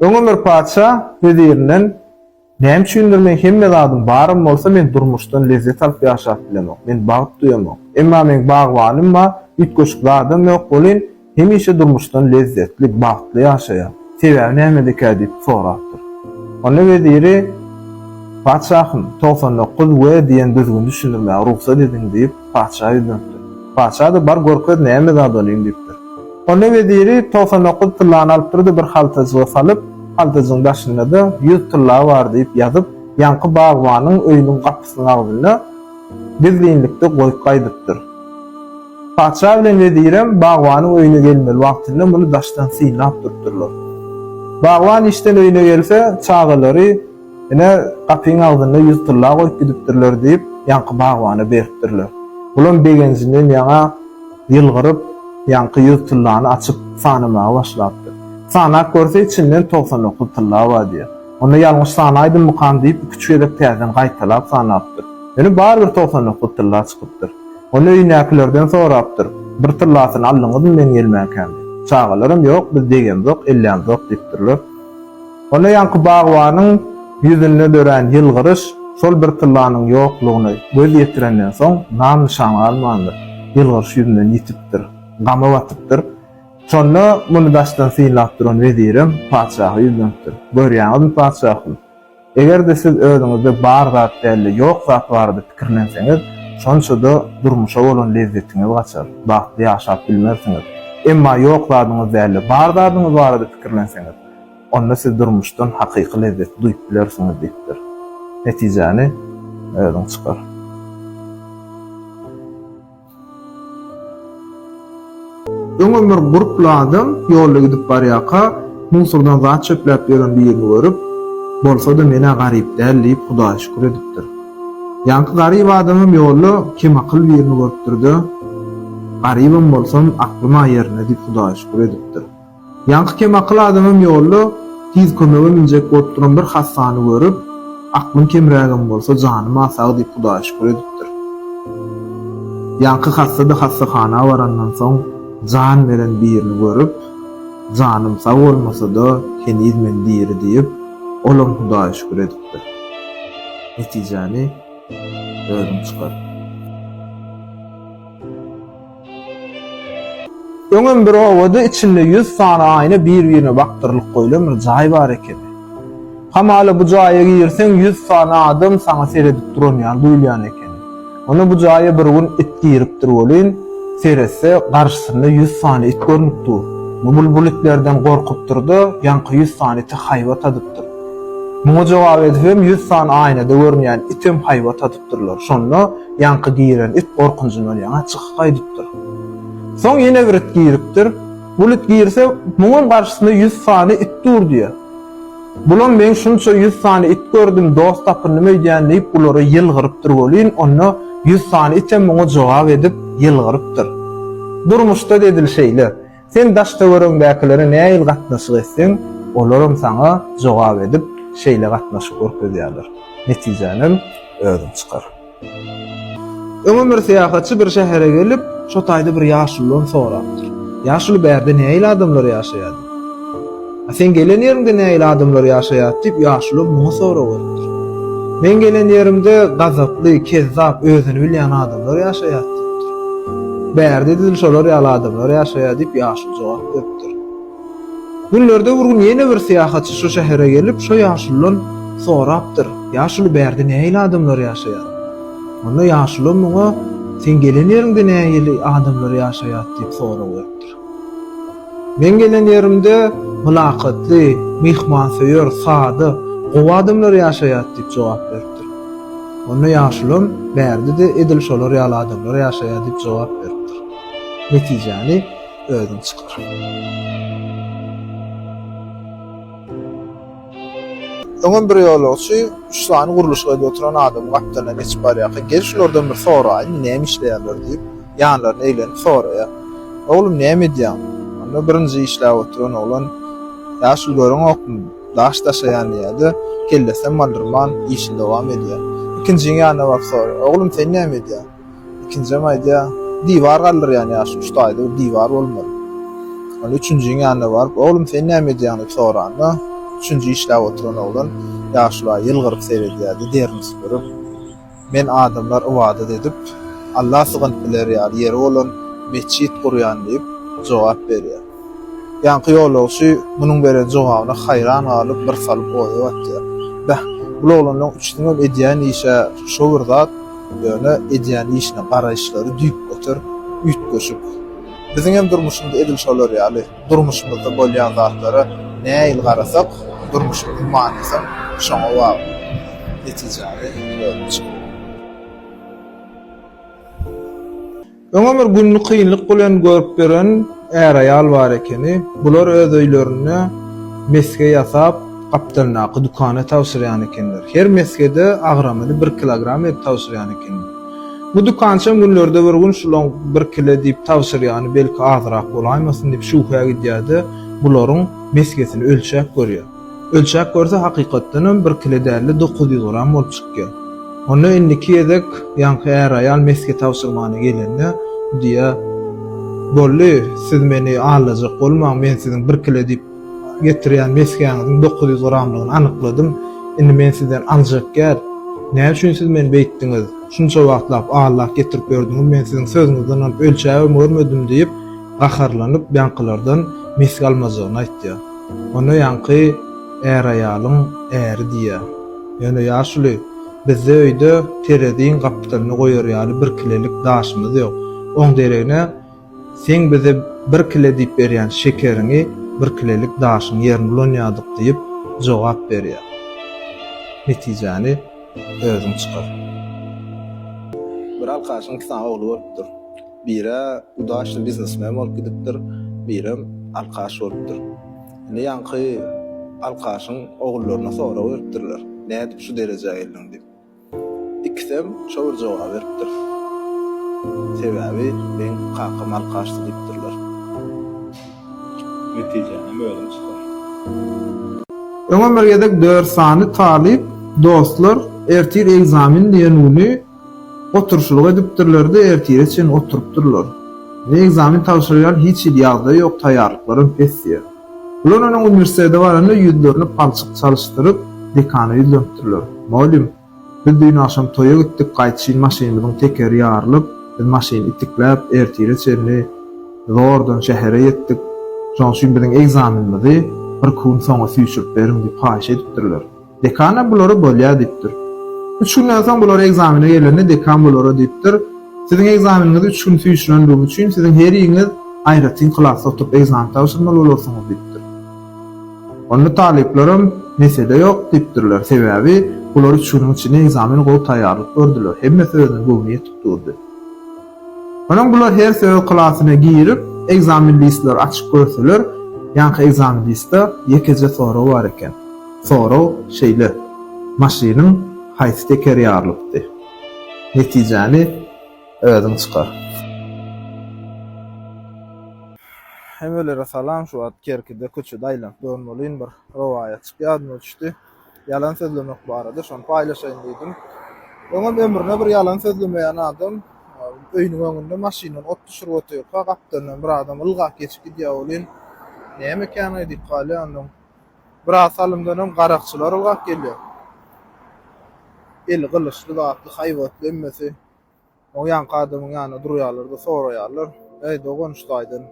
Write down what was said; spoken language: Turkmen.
Öňem bir patyşa wezirinden, Näme üçindir meň hemme zadym barym bolsa, men durmuşdan lezzet alyp ýaşap bilemok, men bagt duýamok. Emma meň bagbanym bar, üýtgeşik zadam ýok welin, hemişe durmuşdan lezzetli, bagtly ýaşaýar. Sebäbi nämedekä diýip sorapdyr. Onda weziri, Patyşahym, togsan dokuz we diýen düzgüni düşündirmäge rugsat ediň diýip, Patyşa ýüzlenipdir. Patyşa-da bar görkez näme zat olyň diýipdir. Onda weziri togsan dokuz tyllany alypdyrdy bir haltajyga salyp, haltajygyň daşynda-da ýüz tylla bar diýip ýazyp, ýaňky bagbanyň öýüniň gapysynyň agzynda gizlinlikde goýup gaýdypdyr. Patyşa bilen wezirem bagbanyň öýüne gelmeli wagtynda muny daşdan synlap durupdyrlar. Bagban işden öýüne gelse, çagalary, Ine, gapyň agzynda ýüz tylla goýup gidipdirler diýip, ýaňky bagbana beripdirler. Bulam begenjinden ýaňa ýylgyryp, ýaňky ýüz tyllany açyp, sanamaga başlapdyr. Sanap görse, içinden togsan dokuz tylla bar diýýär. Onda ýalňyş sanaýdymmykam diýip, iki-üç gezek täzeden gaýtalap sanapdyr. Ýöne barybir togsan dokuz tylla çykypdyr. Onda öýündäkilerden sorapdyr, Bir tyllasyny aldyňyzmy meň elmäkämde? Çagalaram, Ýok, biz degemzok, ellämzok diýipdirler. Onda ýaňky bagbanyň ýüzünde dörän ýylgyryş şol bir tyllanyň ýoklugyna göz ýetirenden soň nam-nyşan galmandyr. Ýylgyryş ýüzünden ýitipdir. Gama batypdyr. Şonda muny daşdan synlap duran wezirem patyşaha ýüzlenipdir. Görýäňizmi, patyşahym? Eger-de siz özüňizde bar zat däl-de, ýok zat barada pikirlenseňiz, şonça-da durmuşa bolan lezzetiňiz gaçar, bagtly ýaşap bilmersiňiz. Emma ýok zadyňyz däl-de, bar zadyňyz barada pikirlenseňiz, Onda siz durmuşdan hakyky lezzeti duýup bilersiňiz diýipdir. Netijäni özüň çykar. Öňem bir gurply adam ýolda gidip barýarka, musordan zat çöpläp ýören birini görüp, Bolsa-da men-ä garyp däl diýip, Hudaýa şükür edipdir. Ýaňky garyp adamam ýolda kemakyl birini görüpdir-de, Garybam bolsam, aklym-a ýerinde diýip, Hudaýa şükür edipdir. Ýaňky kemakyl adamam ýolda Tiz kömege münjek bolup duran bir hassany görüp, aklym kemrägem bolsa, janym-a sag diýip Hudaýa şükür edipdir. Ýaňky hassa-da hassahana barandan soň jan beren birini görüp, Janym sag bolmasa-da, heniz men diri diýip, olam Hudaýa şükür edipdir. Netijäni özüň çykar. Öňem bir obada içinde ýüz sany aýna bir-birine bakdyrylyp goýlan bir jaý bar ekeni. Hamala bu jaýa girseň ýüz sany adam saňa seredip duran ýaly duýulýan ekeni. Onda bu jaýa bir gün it giripdir welin, seretse, garşysynda ýüz sany it görnüp dur. Bubul bul itlerden gorkupdyr-da, ýaňky ýüz sany ite haýbat adypdyr. Muňa jogap edibem ýüz sany aýnada görünýän item haýbat adypdyr. tutupdyrlar. Şonda ýaňky giren it gorkunjyndan ýaňa çykyp gaýdypdyr. Soň ýene bir it giripdir. Bul it girse, muňam garşysynda ýüz sany it dur diýýär. Bulam men şunça ýüz sany it gördüm, dost tapyndym öýdýän diýip bulara ýylgyrypdyr welin, onda ýüz sany item muňa jogap edip ýylgyrypdyr. Durmuşda edil şeýle. Sen daş-töweregiňdäkilere nähili gatnaşyk etseň, olaram saňa jogap edip, şeýle gatnaşyk görkezýärler. Netijänem özüň çykar. Öňem bir syýahatçy bir şähere gelip, şo taýda bir ýaşuludan sorapdyr. Ýaşuly bärde nähili adamlar ýaşaýardy? A sen gelen ýeriňde nähili adamlar ýaşaýar? diýip, ýaşuly muňa sorag beripdir. Men gelen ýerimde gazaply, kezzap, özüni bilýän adamlar ýaşaýar diýipdir. Bärde edil şolar ýaly adamlar ýaşaýar diýip, ýaşuly jogap beripdir. Günlerde bir gün ýene bir syýahatçy şo şähere gelip, şo ýaşuludan sorapdyr, Ýaşuly, bärde nähili adamlar ýaşaýar? Onda ýaşuly muňa, Sen gelen ýeriňde nähili adamlar ýaşaýar? diýip, sorag beripdir. Men gelen ýerimde mylakatly, myhmansöýer, sada, gowy adamlar ýaşaýar, diýip jogap beripdir. Onda ýaşulam bärde-de edil şolar ýaly adamlar ýaşaýar diýip jogap beripdir. Netijäni özüň çykar. Öňem bir ýolagçy üç sany gurluşyk edip oturan adamyň gapdalyndan geçip barýarka, Gel şulardan bir soraýyn, näme işleýärler diýip, ýanlaryna eglenip soraýar. Oglum, näme edýäň? Onda birinji işläp oturan oglan, Ýaşuly göreňokmy, daş daşaýan diýýär-de, kellesem aldyrman, işini dowam edýär. Ikinjiň ýanyna baryp soraýar, Oglum, sen näme edýäň? Ikinjem aýdýa, Diwar galdyrýan ýa şu üç taýda bir diwar bolmaly. Ol üçünjiň ýanyna baryp, Oglum sen näme edýäň diýip soranda, üçünji işläp oturan oglan ýaşula ýylgyryp seredýärdi, derini süpürip, Men adamlar ybadat edip, Alla sygynyp biler ýaly ýeri bolan metjit gurýan diýip, jogap berýär. Ýaňky ýolagçy munuň beren jogabyna haýran galyp, birsalym oýa batýar. Beh, bul oglanlaň üçüsiňem edýän işi-ä şo bir zat. Ýöne edýän işine garaýyşlary düýpgöter üýtgeşik. Biziňem durmuşymyz edil şolar ýaly. Durmuşymyzda bolýan zatlara nähili garasak, durmuşymyzyň manysam şoňa bagly. Netijäni özüň çykyp. Öňem bir gününi kynlyk bilen görüp ýören är-aýal bar ekeni. Bular öz öýlerinde mesge ýasap, gapdalyndaky dükana tabşyrýan ekenler. Her mesgede agramyny bir kilogram edip tabşyrýan ekenler. Bu dükançam günlerde bir gün şulaň bir kile diýip tabşyrýany belki azyrak bolaýmasyn diýip şübhä gidýär-de, bularyň mesgesini ölçäp görýär. Ölçäp görse hakykatdan hem bir kile dälde dokuz ýüz gram bolup çykýar. Onda indiki gezek ýaňky är-aýal mesge tabşyrmana gelende düýe Bolly, siz meni aldajak bolmaň, men siziň bir kile diýip getirýän mesgäňiziň dokuz ýüz gramlygyny anykladym, indi men sizden aljak gel, nä üçin siz meni beýtdiňiz, şunça wagtlap aldap getirip ýördüňiz, men siziň sözüňizden alyp ölçäbem görmedim diýip gaharlanyp ýaňkylardan mesge almajagyny aýtýar. Ony ýaňky är-aýalyň äri diýýär. Ýöne ýaşuly, bizde öýde tereziň gapdalyny goýar ýaly bir kilelik daşymyz ýok. Oň deregine, seň bize bir kile diýip berýän şekeriňi bir kilelik daşyň ýerine ulanýardyk diýip jogap berýär. Netijäni özüň çykar. Bir alkaşyň iki sany ogly bolupdyr. Biri udaşly biznesmen bolup gidipdir, birem alkaş bolupdyr. Indi ýaňky alkaşyň ogullaryna sorag beripdirler, nädip şu derejä geldiň diýip. Ikisem şo bir jogaby beripdir. Sebäbi meň kakam alkaşdy diýipdirler. Netijänem özüň çykar. Öňem bir gezek dört sany talyp dostlar ertir ekzamen diýen güni Oturyşlyk edipdirler-de, ertire çenli oturypdyrlar. Indi ekzamen tabşyrylýan, hiç hili ýagdaý ýok, taýýarlyklar hem pes diýýär. Bular onuň uniwersitete baranda ýüzlerini palçyk çalyşdyryp, dekana ýüzlenipdirler. Mugallym, biz düýn agşam toýa gitdik, gaýdyşyn maşynymyzyň tekeri ýarylyp, biz maşyny itikläp, ertire çenli zordan şähere ýetdik. Şonuň üçin biziň ekzamenimizi birki gün soňa süýşürip beriň diýip haýyş edipdirler. Dekan-a bulara bolýar diýipdir. Üç günden soň bular ekzamene gelende dekan bulara diýipdir, Siziň ekzameniňizi üç gün süýşürendigim üçin siziň heriňiz aýratyn klasda oturyp ekzamen tabşyrmaly bolarsyňyz diýipdir. Onda talyplaram Mesele ýok diýipdirler, sebäbi bular üç günüň içinde ekzamene gowy taýýarlyk gördüler, hemmesi özüne göwni ýetip durdy. Soňam bular her söz klasyna girip, ekzamen listleri açyp görseler, ýaňky ekzamen listde ýekeje sorag bar eken. Sorag şeýle, Maşynyň haýsy tekeri ýarylypdy? Netijäni özüň çykar. Hemmelere salam şu wagt Kerkide köçede aýlanyp görmelin bir rowaýatjyk ýadyma düşdi. Ýalan sözlemek barada şony paýlaşaýyn diýdim. Öňem ömrüne bir ýalan sözlemeýän adam öýüniň öňünde maşyndan ot düşürip otyrka gapdalyndan bir adam ylgap geçip gidýär welin, näme ekeni diýip galýar ondan. Biraz salymdanam garakçylar ylgap gelýär. Eli gylyçly zatly haýbatly hemmesi o ýaňky adamyň ýanynda durýarlar-da soraýarlar, Äý dogan şu taýdan.